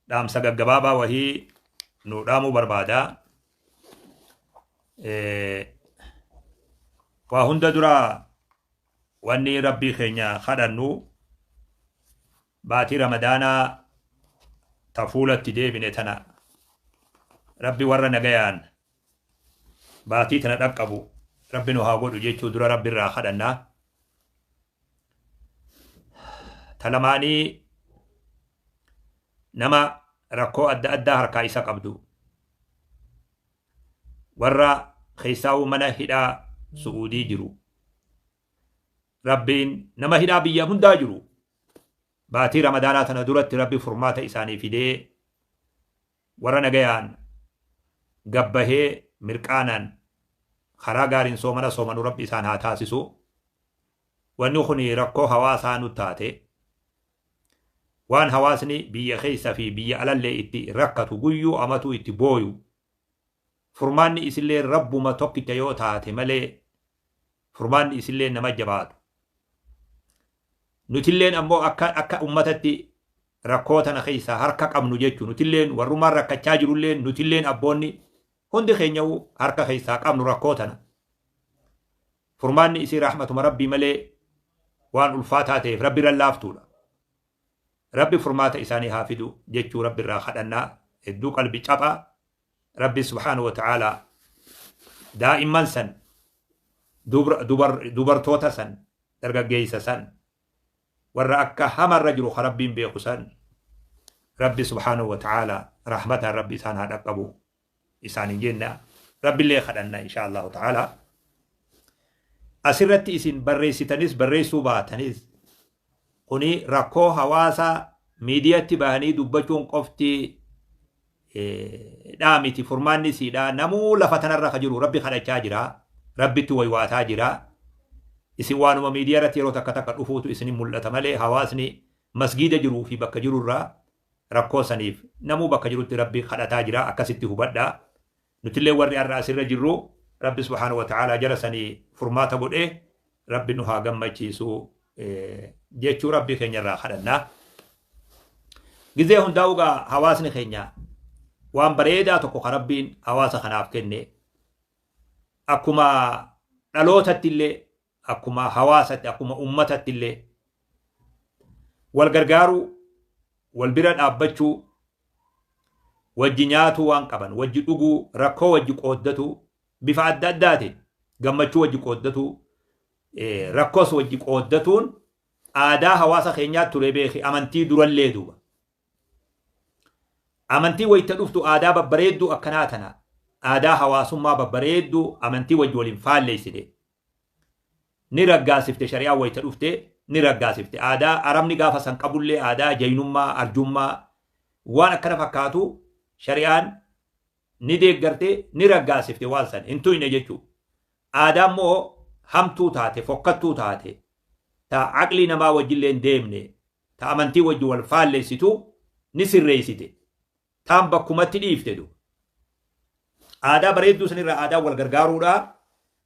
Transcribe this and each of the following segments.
dhaamsa gaggabaabaa wahii nuu dhaamuu barbaada. Waa hunda dura wanni rabbii keenya kadhannu baatii ramadaanaa ta fuulatti deebine tana rabbi warra nagayaan baatii tana dhaqqabu rabbi nu haa godhu jechuu dura rabbi irraa kadhanna. ta lamaanii nama rakkoo adda addaa harkaa isa qabdu warra keessaa'uu mana hidhaa su'uudii jiru rabbiin nama hidhaa biyya hundaa jiru baatii ramadaanaa tana duratti rabbi furmaata isaanii fidee Warra nagayaan gad bahee mirqaanaan karaa gaariin soomana soomanu Rabbi isaan haa taasisu. Wanni kun rakkoo hawaasaa nu taate. Waan hawaasni biyya keessa fi biyya alallee itti rakkatu guyyuu amatuu itti booyu. Furmaanni isillee Rabbuma tokkicha yoo taate malee furmaanni isillee nama jabaatu. Nutilleen ammoo akka akka ummatatti rakkoo tana keessaa harka qabnu jechu. Nutilleen warrumaan rakkachaa jirulleen nutilleen abboonni hundi keenya'u harka keessaa qabnu rakkoo tana. Furmaanni isii rahmatuma Rabbii malee waan ulfaataa ta'eef Rabbi irra laaftuudha. Rabbi furmaata isaanii haa fidu jechuu Rabbi irraa kadhannaa hedduu qalbi caphaa Rabbiin subhaanahu wa ta'aalaa daa'imman san, dubra- dubar- dubartoota san, dargaggeessa san, warra akka hamarra jiru ka Rabbiin beeku san, Rabbi subhaanahu wa ta'aalaa rahmataan Rabbi isaan haa dhaqqabu isaaniin jenna. Rabbillee kadhanna inshaa Allahu ta'aalaa. Asirratti isin barreessitanis barreessuu baatanis Kuni rakkoo hawaasaa miidiyatti bahanii dubbachuun qofti dhaa miti furmaanni isiidhaa namuu lafa tanarra ka jiru rabbi kadhachaa jira rabbitti waywaataa jira isin waanuma miidiyaa irratti yeroo takka takka dhufuutu isinin mul'ata malee hawaasni masgiida jiruu fi bakka jirurraa rakkoo saniif namuu bakka jirutti rabbi kadhataa jira akkasitti hubadhaa Nutillee warri ar'a asirra jirru Rabbi subhaanahu wa ta'aalaa jara sani furmaata godhee Rabbi nu haa gammachiisu jechuu Rabbi keenya irraa kadhanna. Gizee hundaa ugaa hawaasni keenya waan bareedaa tokko ka Rabbiin hawaasa kanaaf kenne akkuma dhalootatti illee akkuma hawaasatti akkuma ummatatti illee wal gargaaruu wal bira dhaabbachuu wajji nyaatuu waan qaban wajji dhuguu rakkoo wajji qooddatuu bifa adda addaatiin gammachuu wajji qooddatuu rakkoos wajji qooddatuun aadaa hawaasa keenyaa ture beeki amantii durallee duuba amantii wayita dhuftu aadaa babbareedduu akkanaa tana aadaa hawaasummaa babbareedduu amantii wajji waliin faalleessite ni raggaasifte shari'aan wayta dhufte ni raggaasifte aadaa arabni gaafa san qabullee aadaa jaynummaa arjummaa waan akkana fakkaatu shari'aan ni deeggarte ni raggaasifte waan san hin tuyne jechuu aadaa immoo hamtuu taate fokkattuu taate ta aqlii namaa wajjillee hin deemne ta amantii wajji wal faalleessitu ni sirreessite taan bakkumatti dhiifte duuba. Aadaa bareedduu sanirraa aadaa wal gargaaruudha.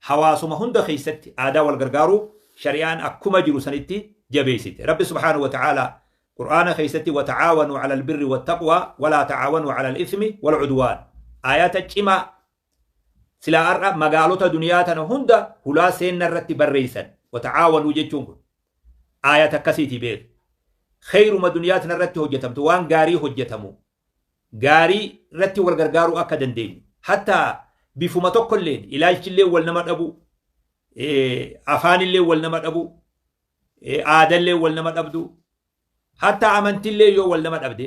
Hawaasuma hunda keessatti aadaa wal gargaaruu shari'aan akkuma jiru sanitti jabeessite. Rabbi subhaanahu wa ta'aalaa Qur'aana keessatti wata'aawanuu calal birri wattaqwaa walaa ta'aawanuu calal ismi wal cudwaan. Ayata cimaa Silaa ar'a magaalota duniyaa tana hunda hulaa seenna irratti barreessan. Wata'aawanuu jechuun kun. Aayata akkasiitii beeki. Kheeyruma duniyaa tana irratti hojjetamtu waan gaarii hojjetamu. Gaarii irratti wal gargaaruu akka dandeenyu. Hattaa bifuma tokkolleen ilaalchillee wal nama dhabuu. Afaanillee wal nama dhabuu. Aadallee wal nama dhabduu. Hatta amantillee yoo wal nama dhabde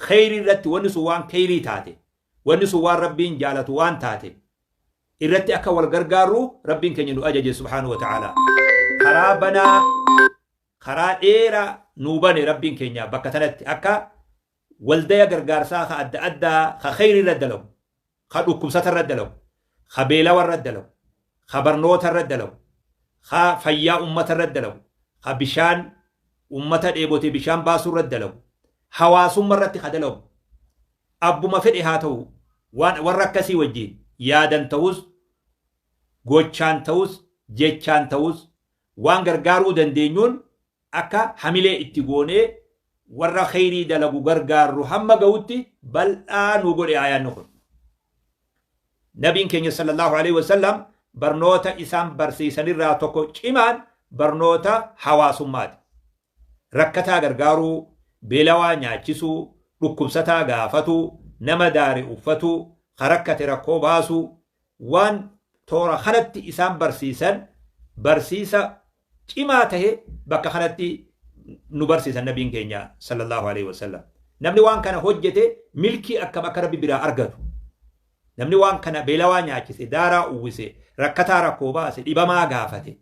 kheyrii irratti wanni sun waan kheyrii taate wanni sun waan rabbiin jaalatu waan taate irratti akka wal gargaarru rabbiin keenya nu ajaje subhaanahu wa ta'ala karaa banaa karaa dheeraa nuu bane rabbiin keenya bakka tanatti akka waldaya gargaarsaa ka adda addaa ka kheyrii irra dalagu ka dhukkubsata irratti dalagu, ka beelawa irratti dalagu, ka barnoota irratti dalagu, ka fayyaa ummata irratti dalagu, ka bishaan ummata dheebote bishaan baasuu irratti dalagu, hawaasumma irratti ka dalagu, abbuma fedhe haa ta'u waan warra akkasii wajjiin yaadan ta'us, gochaan ta'us, jechaan ta'us waan gargaaruu dandeenyuun akka hamilee itti goonee warra kheyrii dalagu gargaarru hamma gahutti bal'aa nu godhe aayaanni kun. Nabiin keenya sallallahu alaihi wasallam barnoota isaan barsiisanirraa tokko cimaan barnoota hawaasummaati. Rakkataa gargaaruu, beelawaa nyaachisuu, dhukkubsataa gaafatuu, nama daare uffatuu, ka rakkate rakkoo baasuu, waan toora kanatti isaan barsiisan barsiisa cimaa tahe bakka kanatti nu barsiisan nabiin keenya sallallahu alaihi wasallam namni waan kana hojjete milkii akkam akka rabbi biraa argatu namni waan kana beelawaa nyaachise daaraa uwwise rakkataa rakkoo baase dhibamaa gaafate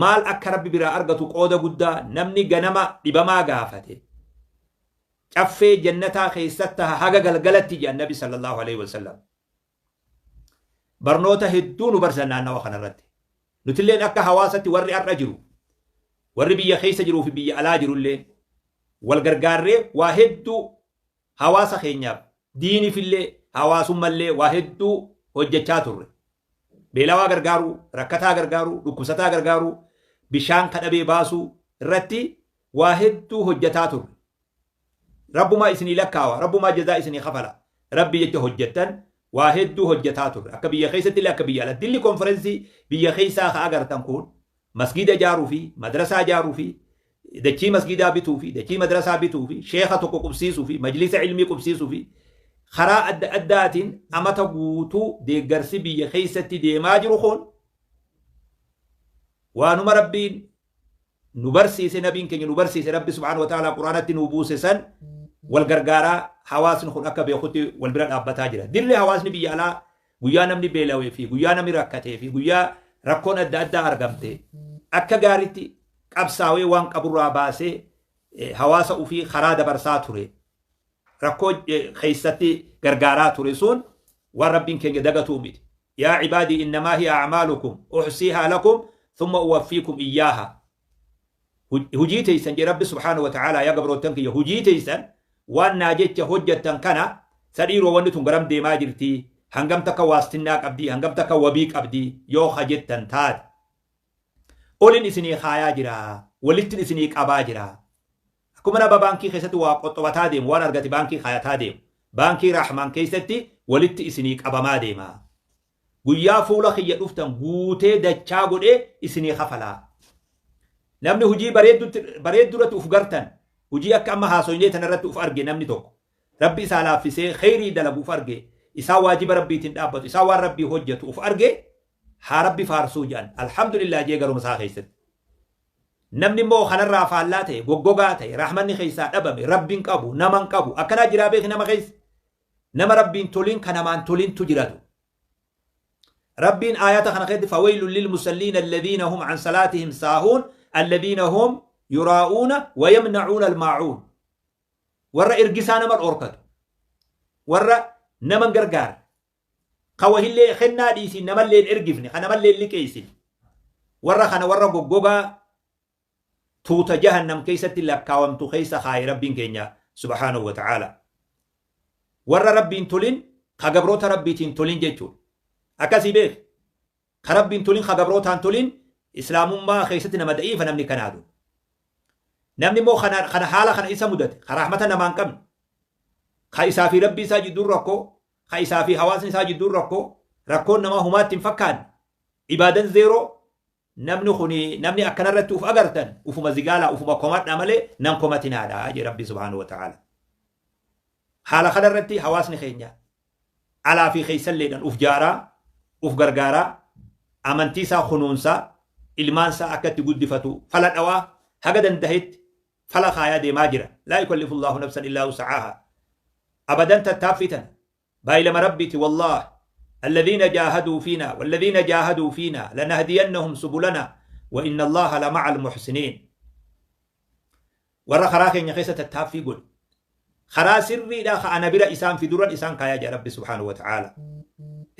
maal akka rabbi biraa argatu qooda guddaa namni ganama dhibamaa gaafate caffee jannataa keessatti haga galgalatti jedhan nabi sallallahu alaihi wasallam Barnoota hedduu nu barsisan naannawa kana irratti. Nutilleen akka hawaasatti warri har'a jiru, warri biyya keessa jiruu fi biyya alaa jirulleen wal gargaarree waa hedduu hawaasa keenyaaf, diiniifillee, hawaasummallee waa hedduu hojjechaa turre. Beelawaa gargaaruu, rakkataa gargaaruu, dhukkubsataa gargaaruu, bishaan ka dhabee baasuu irratti waa hedduu hojjetaa turre. Rabbumaa isinii lakkaawa rabbumaa jazaa isinii kafala rabbii jecha hojjattan waa hedduu hojjataa turre akka biyya keessattillee akka biyya alatti dilli konferensii biyya keessaa ka agartan kun masgiida ijaaruu fi madrasaa ijaaruu fi dachii masgiidaa bituu fi dachii madrasaa bituu fi sheeka tokko qubsiisuu fi majlisa ilmii qubsiisuu fi karaa adda addaatiin amata guutuu deeggarsi biyya keessatti deemaa jiru kun waanuma rabbiin nu barsiise nabiin keenya nu barsiise rabbi subhaanahu wa ta'aalaa quraanatti nuu buuse san wal gargaaraa hawaasni kun akka beekutti wal bira dhaabbataa jira dilli hawaasni biyya alaa guyyaa namni beelawee fi guyyaa namni rakkatee fi guyyaa rakkoon adda addaa argamte akka gaaritti qabsaawee waan qaburraa baasee eh, hawaasa ufii karaa dabarsaa ture rakkoo eh, keessatti gargaaraa ture sun waan rabbiin keenya dagatuu miti Yaa cibaadii innamaa hiya acmaalukum uxsiihaa lakum thumma uwaffiikum iyyaahaa Hujii teeysan jee Rabbi subhaanahu wa ta'aalaa yaa gabroottan kiyya hujii teeysan waan naa jecha hojjattan kana sa dhiiroo wanni tun garam deemaa jirtii hangam takka waastinnaa qabdii hangam takka wabii qabdii yoo ka jettan taate olin isinii kaayaa jira walittin isinii qabaa jira Akkuma nama baankii keessatti waa qoxxobataa deemu, waan argate baankii kaayataa deemu, baankii Raahmaan keessatti walitti isinii qabamaa deema. Guyyaa fuula kiyya dhuftan guutee dachaa godhee isinii kafala. Namni hujii bareeddutti- bareedduu irratti uf gartan, hujii akka amma haasoynee tana irratti uf arge namni tokko, Rabbi isaa laaffisee kheyrii dalagu uf arge, isaa waajiba Rabbiitiin dhaabbatu, isaa waan Rabbii hojjetu uf arge, haa Rabbi faarsuu jedhan. Alhamdulillah jee garuma isaa keessatti. Namni immoo kanarraa faallaa ta'e, goggogaa ta'e, rahmanni keessaa dhabame, Rabbi hin qabu, nama hin qabu, akkanaa jiraa beeki nama keessa? Nama Rabbi hin tolin ka namaan tolintu jiratu. Rabbiin aayata kana keessatti fawaylun lil musalliina alladhiina hum an salaatihim saahuun alladhiina hum yuraa'uuna wa yamna'uuna almaa'uun. Warra ergisaa nama dhorkatu. Warra nama hin gargaarre. Ka wahillee kennaa dhiisii namallee hin ergifne, ka namallee hin liqeessine. Warra kana warra goggogaa tuuta jahannam keessatti lakkaawamtu keessa kaaye Rabbiin keenya subhaanahu wa ta'aala. Warra Rabbiin tolin ka gabroota Rabbiitiin tolin jechuudha. Akkasii beeki. Ka Rabbiin tolin ka gabrootaan tolin Islaamummaa keessatti nama da'iifa namni kanaa dun. Namni immoo kana, kana haala kana isa mudate, ka rahmata namaa hin qabne, ka isaa fi Rabbii isaa jidduun rakkoo, ka isaa fi hawaasni isaa jidduun rakkoo rakkoon namaa humaatti hin fakkaanne ibaadan zeeroo namni kuni namni akkana irratti uf agartan ufuma zigaalaa ufuma komadha malee nan komatinaadha jee rabbi subhaanahu wa ta'ala haala kana irratti hawaasni keenya alaa fi keessalleedhan uf jaaraa uf gargaaraa amantii isaa kunuunsaa ilmaan isaa akka itti guddifatu fala dhawaa haga dandahetti fala kaayaa deemaa jira. Laa yukallifu Allaahu nafsan illaa wusa'aahaa. Abadan tattaaffii tana. Baay'ilama Rabbiiti wallaahi. Alladhiina jaahaduu fiinaa walladhiina jaahaduu fiinaa lanahdiyannahum subulanaa wa inna Allaaha lama'al muhsiniin. Warra karaa keenya keessa tattaaffii godhe. Karaa sirriidhaa ka ana bira isaan fiduran isaan kaayaa jira Rabbi subhaanahu wa ta'aala.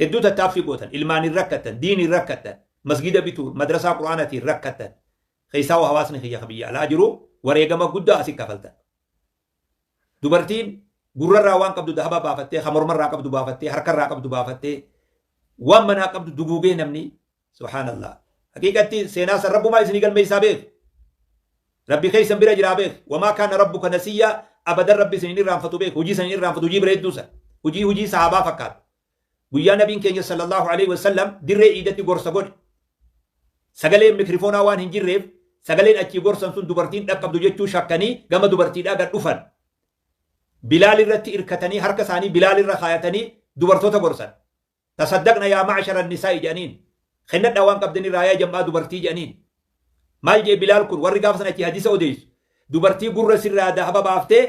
Hedduu tattaaffii gootan ilmaaniin rakkattan diiniin rakkattan masgiida bituu madrasaa quraanatiin rakkattan Keessaahuu hawaasni kiyya ka biyya alaa jiru wareegama guddaa asi kafaltan. Dubartiin gurrarraa waan qabdu dahaba baafattee, ka mormarraa qabdu baafattee, harkarraa qabdu baafattee, waan manaa qabdu duguugee namni, subhaanallaah. Haqiiqatti seenaa san Rabbumaa isinii galmeessaa beekhi. Rabbi keessan bira jiraa beekhi. Wamaa kaana rabbuka nasiyyaa abadan Rabbi isin hin irraanfatu beekhi. Hujii san hin irraanfatu, hujii bareedduu san. Hujii hujii sahaabaa fakkaatu. Guyyaa Nabiin keenya Sallallaahu aleyhi wa sallam dirree iidatti gorsa godhe. Sagaleen mikrifoonaa waan hin jirreef sagaleen achii gorsan sun dubartii hin dhaqqabdu jechuu shakkanii gama dubartiidhaa gad dhufan. Bilaal irratti irkatanii harka isaanii Bilaal irra kaayatanii dubartoota gorsan. Tasaddaqna yaa ma'ashara nisaa'i jedhaniin. Kennadhaa waan qabdan irraa yaa jam'aa dubartii jedhaniin. Maal jee Bilaal kun warri gaafa sana achii hadiisa odeessu. Dubartii gurra sirraa dahaba baaftee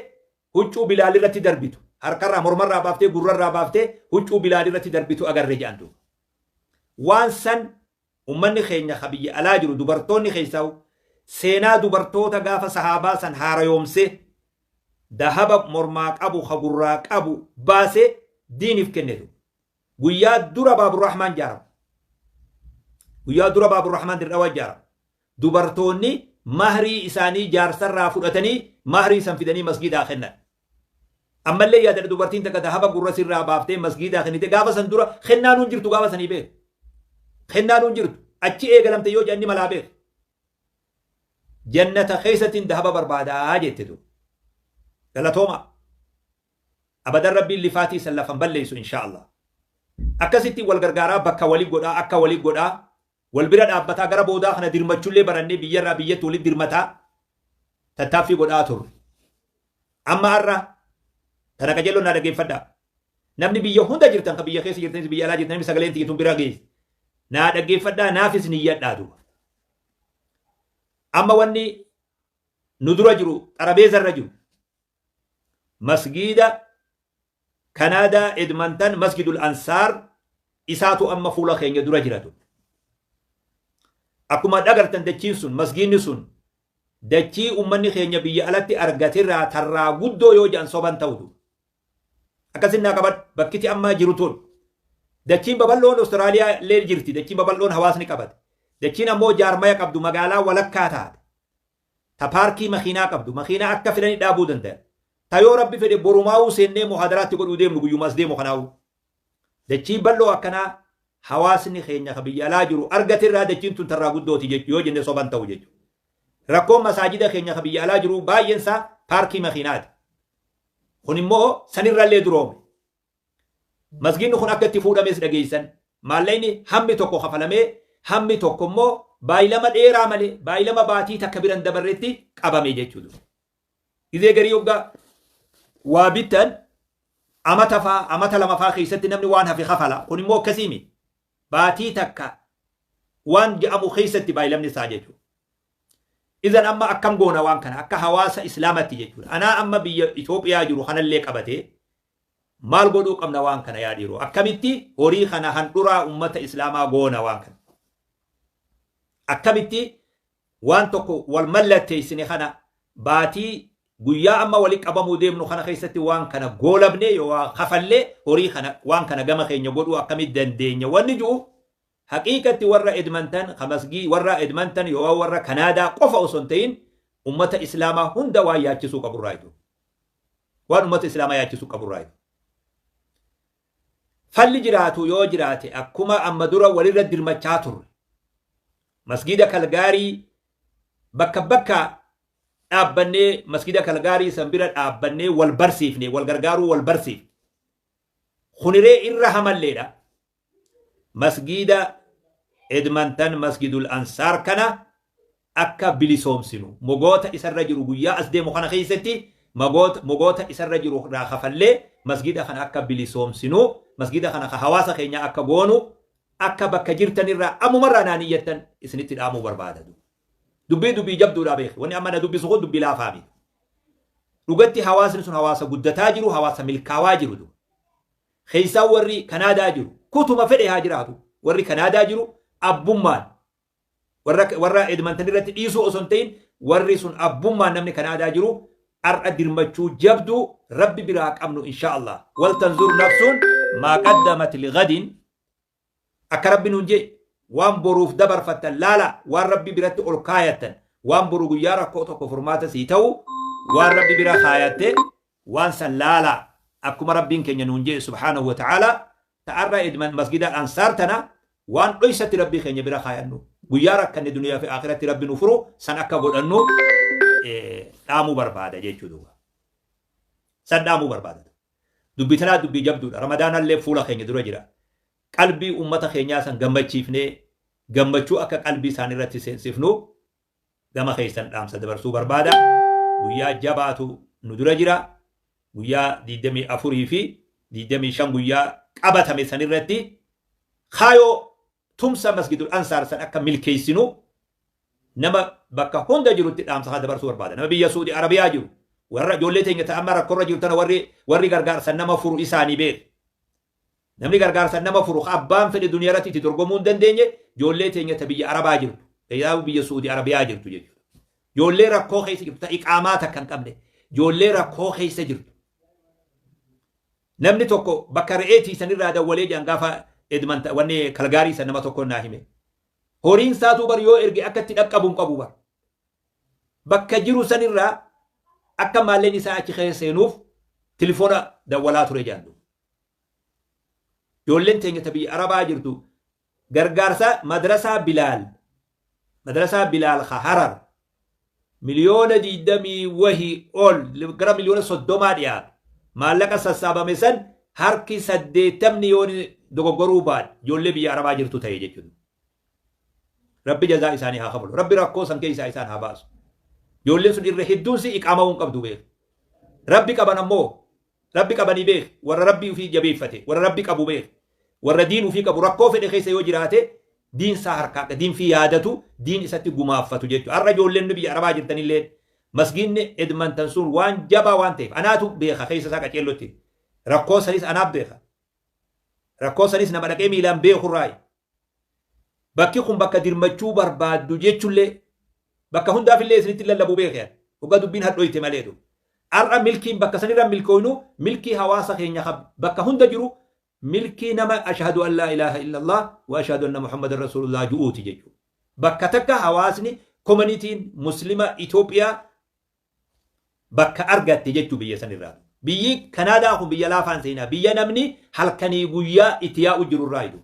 Huccuu Bilaal irratti darbitu, harkarraa, mormarraa baaftee, gurrarraa baaftee huccuu Bilaal irratti darbitu agarre jedhan duuba. Waan san ummanni keenya ka biyya alaa jiru dubartoonni keessaahuu seenaa dubartoota gaafa sahaabaa san haarayoomsee dahaba mormaa qabu ka gurraa qabu baasee diiniif kenne duuba. Guyyaa dura Baaburrahmaan ijaaramu. Guyyaa dura Baaburrahmaan Dirree Dhawaa ijaaramu. dubartoonni mahrii isaanii jaarsarraa fudhatanii mahrii san fidanii masgiidaa kennan. Ammallee yaadadha dubartiin takka dahaba gurra sirraa baaftee masgiidaa kennite gaafa san dura kennaan hin jirtu gaafa sanii beeku. Kennaan hin jirtu achi eegalamte yoo jedhan ni malaa beeku. Jannata keessattiin dahaba barbaadaa jette duuba. Galatooma. Abadan rabbiin lifaatii san lafan balleessu inshaa Allah. Akkasitti wal gargaaraa bakka wali godhaa akka wali godhaa Wal bira dhaabbataa gara boodaa kana dirmachullee barannee biyyarraa biyyatti walitti dirmataa tattaaffii godhaa turre. Amma har'a tana qajeelloon naa dhaggeeffadhaa. Namni biyya hunda jirtan kan biyya keessa jirtanis biyya alaa jirtanis sagaleen tiyya tun bira geessi. Naa dhaggeeffadhaa naafis niyyadhaa duuba. Amma wanni nu dura jiru xarabeeza irra jiru. Masgiida Kanaadaa Edmantan Masgidul Ansaar isaatu amma fuula keenya dura jira ture. Akkuma dhagartan dachiin sun masgiinni sun dachii ummanni keenya biyya alatti argatirraa tarraa guddoo yoo jedhan soban ta'utu. Akkasin naa qaban bakkiti ammaa jiru tun dachiin babal'oon Awustiraaliyaa illee jirti dachiin babal'oon hawaasni qabate dachiin ammoo jaarmaya qabdu magaalaa walakkaa taate ta paarkii makiinaa qabdu, makiinaa akka filani dhaabuu dandayan, ta yoo Rabbi fedhe borumaawuu seennee muhaadaraa itti godhuu deemnu guyyuma as deemu kanaawuu. Dachii bal'oo akkanaa hawaasni keenya ka biyya alaa jiru argate irraa dachiin tun tarraa guddooti jechu yoo jenne soba hin ta'u jechu. Rakkoon masaajida keenya ka biyya alaa jiru baay'een isaa paarkii makiinaati. Kun immoo sanirrallee duroome. Masgiidni kun akka itti fuudhames dhageessan. Maallaqni hammi tokko kafalamee hammi tokko immoo baay'ilama dheeraa malee baay'ilama baatii takka bira hin dabarretti qabame jechuu ture. Gizee garii hoggaa waa bittan amata faa amata lama faa keessatti namni waan hafe kafala. Kun immoo akkasii miti. Baatii takka waan ja'amu keessatti baay'ilamni isaa jechuudha. Izan amma akkam goona waan kana akka hawaasa islaamatti jechuudha. Anaa amma biyya Itoophiyaa jiru kanallee qabatee Maal godhuu qabna waan kana yaa dhiiroo? Akkamitti horii kana handhuraa ummata Islaamaa goona waan kana? Akkamitti waan tokko wal mallatteessine kana baatii guyyaa amma walitti qabamuu deemnu kana keessatti waan kana goolabnee yoo waa kafallee horii kana waan kana gama keenya godhuu akkamitti dandeenya wanni jiru Haqiiqatti warra Edmonton ka masgii warra Edmonton yooan warra Canada qofa osoo hin ta'in ummata Islaamaa hunda waan yaachisuu qabu irraa ituu. Waan ummata Islaamaa yaachisuu qabu irraa ituu. Falli jiraatu yoo jiraate akkuma amma dura walirra dirmachaa turre. Masgiida Kalgaarii bakka bakka dhaabbannee masgiida Kalgaarii san bira dhaabbannee wal barsiifne wal gargaaruu wal barsiifne. Kuniree irra hamalleedha. Masgiida Edmonton Masgidul Ansaar kana akka bilisoomsinu, mogoota isa irra jiru guyyaa as deemu kana keessatti magoota, mogoota isa irra jiru irraa kafallee masgiida kana akka bilisoomsinu, masgiida kana ka hawaasa keenyaa akka goonu, akka bakka jirtan irraa ammuma irraa naa niyyattan isinitti dhaamuu barbaada. Dubbii dubbii jabduudha beeki. Wanni amma na dubbisu kun dubbii laafaa miti. Dhugatti hawaasni sun hawaasa guddataa jiru, hawaasa milkaawaa jiru. keessaa warri Kanaadaa jiru kutuma fedhe haa jiraatu warri Kanaadaa jiru abbummaan warra warra Edmonton irratti dhiisuu osoo hin ta'in warri sun abbummaan namni Kanaadaa jiru har'a dirmachuu jabduu rabbi biraa qabnu inshaa Allah wal tanzur nafsuun maa qaddamat ligadin Akka Rabbi nuun je'e, Waan boruuf dabarfattan laalaa, waan Rabbi biratti ol kaayattan, waan boru guyyaa rakkoo tokko furmaata sii ta'u, waan Rabbi bira kaayatte, waan san laalaa. Akkuma Rabbiin keenya nuun je'e subhaanahu wa ta'aalaa, ta ar'a edman masgida Al-Ansaar tana, waan dhoysatti Rabbi keenya bira kaayannu, guyyaa rakkanne duniyaa fi aakhiratti Rabbi nu furu, san akka godhannu dhaamuu barbaada jechuu duuba. San dhaamuu barbaada. Dubbi tanaa dubbii jabduudha. Ramadaanallee fuula keenya dura jira. Qalbii ummata keenyaa san gammachiifnee gammachuu akka qalbii isaaniirratti seensifnu gama keessan dhaamsa dabarsuu barbaada. Guyyaa jabaatu nu dura jira. Guyyaa 24 fi 25 guyyaa qabatame sanirratti kaayoo Tumsa Masgidul Ansaar san akka milkeessinu nama bakka hunda jirutti dhaamsa kana dabarsuu barbaada. Nama biyya Suudi Arabiyaa jiru, warra ijoollee teenya ta amma rakkorra jiru tana warri warri gargaarsan nama furu isaanii beeka. Namni gargaarsan nama furu ka abbaan fedhe duniyaa irratti itti dorgomuu hin dandeenye ijoollee teenya ta biyya Arabaa jirtu, keessaafu biyya Suudi Arabiyaa jirtu jechuudha. Ijoollee rakkoo keessa jirtu ta iqaamaa takka hin qabne, ijoollee rakkoo keessa jirtu. Namni tokko bakka re'ee tiisan irraa dawwalee jedhan gaafa Edmanta wanni Kalgaarii san nama tokkoon naa hime. Horiin saatuu bar yoo erge akka itti dhaqqabu hin qabu bar. Bakka jiru san irraa akka maalleen isaa achi keessa seenuuf tilifoona dawwalaa ture jedhan duuba. Ijoolleen teenya ta biyya Arabaa jirtu Gargaarsa Madrasaa Bilaal Madrasaa Bilaal ka Harar miliyoona 20 wahi ol gara miliyoona 30 dhiyaatu maallaqa sassaabame san harki 80 yoo dogoggoruu baadhe ijoollee biyya Arabaa jirtu ta'e jechuudha. Rabbi jazaa isaanii haa kafalu. Rabbi rakkoo san keessaa isaan haa baasu. Ijoolleen sun irra hedduun si iqaama'uu hin qabdu beeku. Rabbi qaban ammoo Rabbi qabanii beekh warra Rabbii ufii jabeeyfate warra Rabbi qabu beekh warra diin ufii qabu rakkoo fedhe keessa yoo jiraate diin saa harkaa qa diin fii yaadatu diin isatti gumaaffatu jechu har'a ijoolleen biyya arabaa jirtanilleen masgiinni Edmantan suun waan jabaa waan ta'eef anaatu beekha keessa isaa qaceellotti rakkoo sanis anaaf beekha rakkoo sanis nama dhaqee miilaan beekhu irraayi Bakki kun bakka dirmachuu barbaaddu jechullee bakka hundaafillee isinitti lallabuu beeke ani. Hoggaa dubbiin hadhoyte maleetu. Ar'a milkiin bakka sanirra hin milkooynu milkii hawaasa keenya ka bakka hunda jiru milkii nama Ashahadu an laa ilaaha illallah wa ashahadu anna Muhammadan Rasuulullah ju'uuti jechuudha. Bakka takka hawaasni, komanitiin, Muslima Itoophiyaa bakka argatte jechuu biyya san irraa. Biyyi Kanaadaa kun biyya laafaan seenaa biyya namni halkanii guyyaa itti yaa'u jiru irraa idu.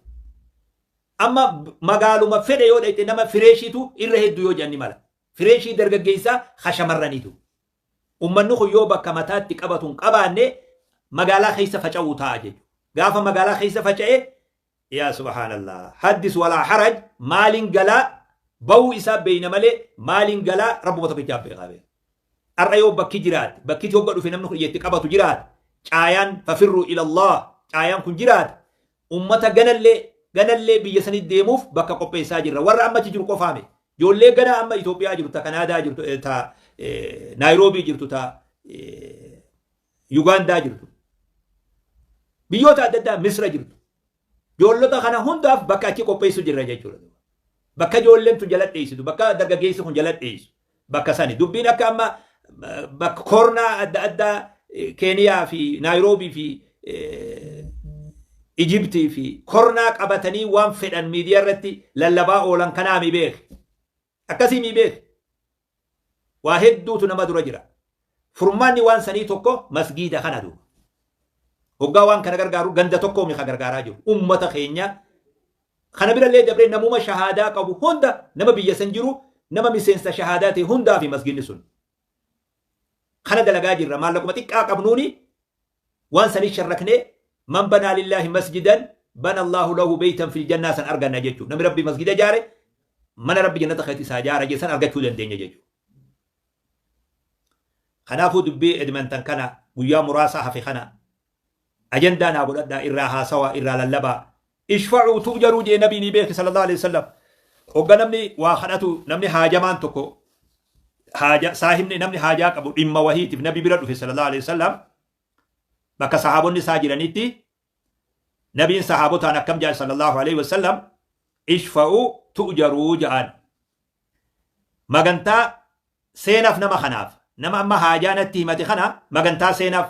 Amma magaaluma fedhe yoo dhayxe nama fireeshiitu irra hedduu yoo jedhan mala. Fireeshii dargaggeessaa ha shamarraniitu. Ummanni kun yoo bakka mataatti qabatu hin qabaanne magaalaa keessa faca'uu ta'a jechuudha. Gaafa magaalaa keessa faca'e Yaa subhaanallah haddis walaa haraj maaliin galaa ba'uu isaa beeyna malee maaliin galaa rabbuma tokkichaaf beekaa bee har'a yoo bakki jiraate bakkiti hogga dhufe namni kun ija itti qabatu jiraate caayaan fafirru ilallah caayaan kun jiraate ummata ganallee ganallee biyya sanii deemuuf bakka qopheessaa jirra warra amma achi jiru qofaame ijoollee gana amma Itoophiyaa jirtu ta Kanaadaa jirtu eh, ta eh, Naayiroobii jirtu ta eh, Yugaandaa jirtu. Biyyoota adda addaa Misra jirtu. Joollota kana hundaaf bakka achi qopheessu jirra jechuudha. Bakka ijoolleen tun jala dheessitu, bakka dargaggeessi kun jala dheessu, bakka sani. Dubbiin akka amma eh, bakka koornaa adda addaa eh, Keeniyaa fi Naayiroobii fi eh, Ijibtii fi kornaa qabatanii waan fedhan miidiyaa irratti lallabaa oolan kanaa mi beeki. Akkasii mii beetu? Waa hedduutu nama dura jira. Furmaanni waan sanii tokko masgiida kana duuba. Hoggaa waan kana gargaaru ganda tokkoo mii ka gargaaraa jiru? Ummata keenya kana bira illee dabree namuma shahaadaa qabu hunda nama biyya san jiru nama miseensa shahaadaa ta'e hundaa fi masgiinni sun. Kana dalagaa jirra maallaquma xiqqaa qabnuuni Waan saniin sharraknee Man banaa lillaahi masjidan bana Allaahu lahu beytan fil jannaa san arganna jechuudha. Namni Rabbiif masgida ijaare mana Rabbi jannata keessatti isaa ijaara jee san argachuu dandeenya jechuudha. Kanaafuu dubbii Edmonton kana guyyaa muraasaa hafe kana ajandaa naa godhadhaa irraa haasawaa irraa lallabaa Ishfa'uu tu'jaruu jee nabii nii beeki sallallahu aleyhi wasallam hogga namni waa kadhatu namni haajamaan tokko haaja saahibni namni haajaa qabu dhimma wahiitif nabi bira dhufe sallallahu aleyhi wasallam bakka sahaabonni isaa jiranitti nabiin sahaabotaan akkam jaan sallallahu aleyhi wasallam ishfa'uu tu'jaruu ja'an magantaa seenaaf nama kanaaf nama amma haajaa natti himate kana magantaa seenaaf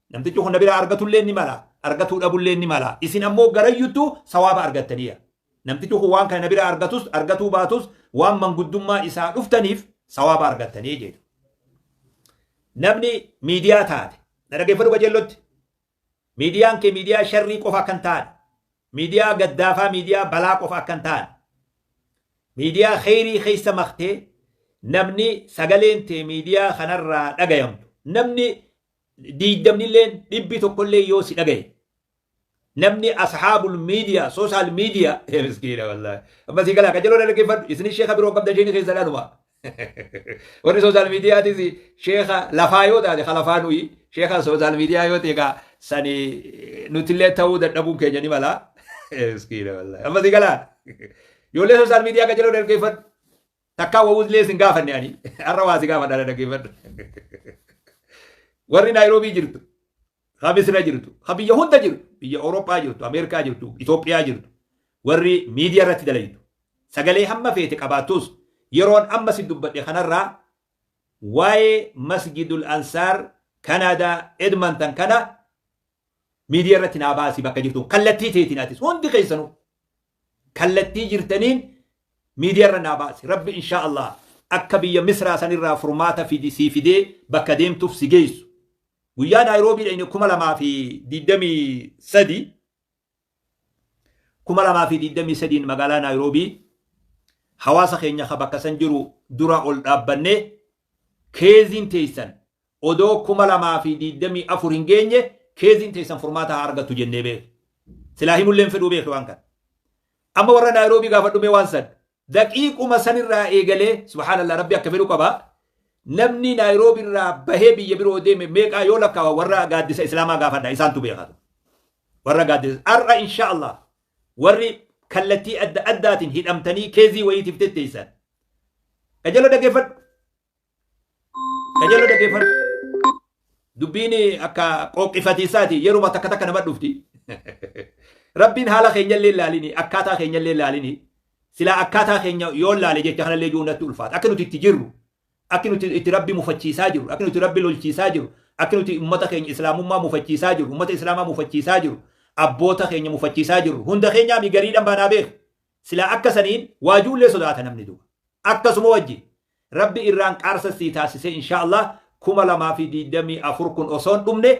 Namtichi kun na biraa argatulleen ni mala, argatuu dhabulleen ni mala. Isin ammoo garayyuttu sawaaba argattaniya. Namtichi kun waan kana na biraa argatus, argatuu baatus waan manguddummaa isaa dhuftaniif sawaaba argattanii jeeta. Namni miidiyaa taate, na dhageeffadhu qajeellotti. Miidiyaan kee miidiyaa sharrii qofa akka hin taane, miidiyaa gaddaafaa, miidiyaa balaa qofa akka hin taane, miidiyaa kheyrii keessa maktee namni sagaleen tee miidiyaa kanarraa dhagayamtu, namni diigdamnilleen dhibbi tokkollee yoo si dhagaye namni ashaabul miidiyaa soosaal miidiyaa miskiina wallaahi amma si galaa qajeloon dhaggeeffadhu isin sheeka biroo qabda sheekni keessa dhaanuma warri soosaal miidiyaatis sheeka lafaa yoo taate ka lafaa nuyi sheeka soosaal miidiyaa yoo ta'e kaa sani nutillee ta'uu dadhabuun keenya ni mala miskiina wallaahi amma si galaa ijoollee soosaal miidiyaa qajeloon dhaggeeffadhu Takkaa wawuzlee sin gaafanne ani. Har'a waa si gaafadha na dhaggeeffadhu. Warri Naayiroobii jirtu, ha Misira jirtu, ha biyya hunda jirtu, biyya Awurooppaa jirtu, Ameerikaa jirtu, Itoophiyaa jirtu, warri miidiyaa irratti dalaytu. Sagalee hamma feete qabaattus yeroon amma si dubbadhe kanarraa waa'ee Masjidul Ansaar Kanaadaa Edmonton kana miidiyaa irratti naa baasi bakka jirtu kallattii teetiin atis hundi keessanuu. kallattii jirtaniin miidiyarra naa baasi rabbi inshaa allaah akka biyya misraa sanirraa furmaata fidi sii fidee bakka deemtuuf si geessu guyyaa naayiroobii dhayne 2023 2023 magaalaa naayiroobii hawaasa keenya ka bakka san jiru dura ol dhaabbannee keeziin teeysan Odoo 2024 hin geenye keeziin teessan furmaata haa argattu jennee beekna. Silaa himullee hin fedhuu beekna waan kana. Amma warra Naayiroobii gaafadhu mee waan san. Daqiiquma san irraa eegalee subhaanallah rabbi akka fedhu qaba. Namni Naayiroobii irraa bahee biyya biroo deeme meeqaa yoo lakkaawa warra gaaddisa Islaamaa gaafadha isaantu beeka. Warra gaaddisa har'a insha Allah warri kallattii adda addaatiin hidhamtanii keezii wayiitiif tetteessan. Qajeeloo dhaggeeffadhu. Qajeeloo dhaggeeffadhu. Dubbiin akka qooqqifatiisaati yeruma takka takka nama dhufti. Rabbiin haala keenyallee ilaalini akkaataa keenyallee ilaalini silaa akkaataa keenya yoo ilaale jecha kanallee jiru natti ulfaata. Akka nuti itti jirru akka nuti itti rabbi mufachiisaa jiru akka nuti rabbi lolchiisaa jiru akka nuti ummata keenya islaamummaa mufachiisaa jiru ummata islaamaa mufachiisaa jiru abboota keenya mufachiisaa jiru hunda keenyaa mi gariidhan baanaa beeku. Silaa akka saniin waajuullee sodaata namni duuba. Akkasuma wajjin Rabbi irraan qaarsa sii taasisee inshaa Allah 2024 kun osoo hin dhumne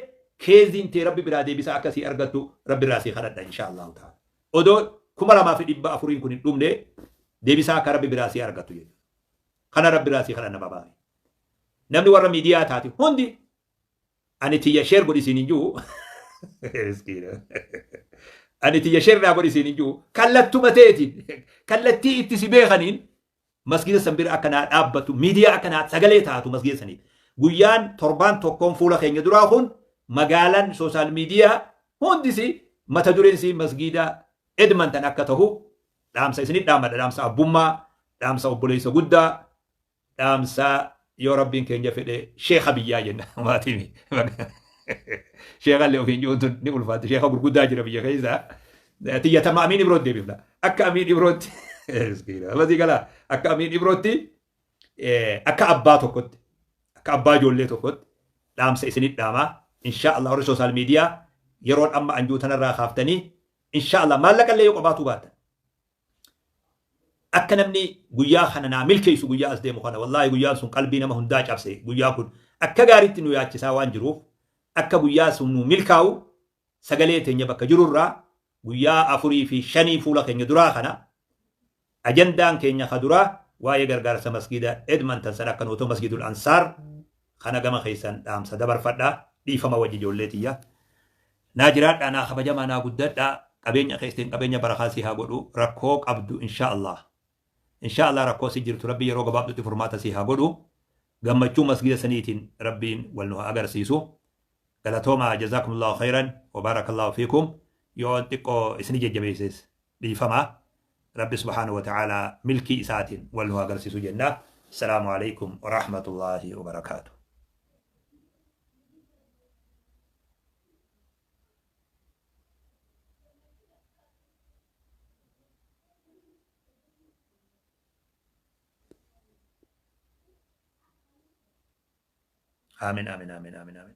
keeziin tee rabbi biraa deebisaa akka sii argattu rabbi irraa sii kadhadha inshaa Allah ta'ala. Odoo 2400 kun hin dhumne deebisaa akka rabbi biraa sii argattu jedhu. Kana rabbi irraa sii kadhanna babaare. Namni warra miidiyaa taate hundi ani tiyya sheer godhi siin hin jiru. Miskiina. Ani tiyya sheer naa godhi siin hin jiru. Kallattuma teetiin kallattii itti si beekaniin Masgiida san bira akka naa dhaabbattu, miidiyaa akka naa sagalee taatu masgiida saniif. Guyyaan torbaan tokkoon fuula keenya duraa kun magaalaan soosaal miidiyaa hundi isii mata dureen isii masgiida Edmonton akka tahu dhaamsa isinit dhaamadha. Dhaamsa abbummaa, dhaamsa obboleessa guddaa, dhaamsa yoo rabbiin keenya fedhe sheeka biyyaa jenna maatiimi sheeka illee ofiin jiruun tun ni ulfaatti sheeka gurguddaa jira biyya keessa tiyya tama amiin ibrootti deebifna akka amiin ibrootti masii gala akka amiin ibrootti akka abbaa tokkotti akka abbaa ijoollee tokkotti dhaamsa isinit dhaamaa inshaa Allah warri soosaal miidiyaa yeroon amma anjuu tanarraa kaaftanii inshaa Allah maallaqa illee yoo qabaatuu baattan Akka namni guyyaa kana naa milkeessu guyyaa as deemu kana wallaahi guyyaan sun qalbii nama hundaa cabse guyyaan kun akka gaariitti nu yaachisaa waan jiruuf akka guyyaa sun nuu milkaa'u sagalee teenya bakka jiru irraa guyyaa afurii fi shanii fuula keenya duraa kana ajandaan keenya ka duraa waa'ee gargaarsa masgiida Edmonton san akka nuutoo masgiidul ansaar kana gama keessan dhaamsa dabarfadha dhiifama wajji ijoollee tiyya Naa jiraadhaa naa kabajamaa naa guddadhaa qabeenya keessan qabeenya barakaa sii haa godhu rakkoo qabdu inshaa allaah inshaa allaah rakkoo si jirtu rabbi yeroo gabaabdutti furmaata sii haa godhu gammachuu masgida saniitiin rabbiin wal nu haa agarsiisu galatoomaa jazaakumullaahu khayran wabaarakallahu fiikum yoon xiqqoo isini jajjabeesses dhiifama rabbi subhaanahu wa ta'aalaa milkii isaatiin wal nu haa garsiisu jenna assalaamu aleykum wa rahmatullaahi wa barakaatu. Amin amin amin amin amin.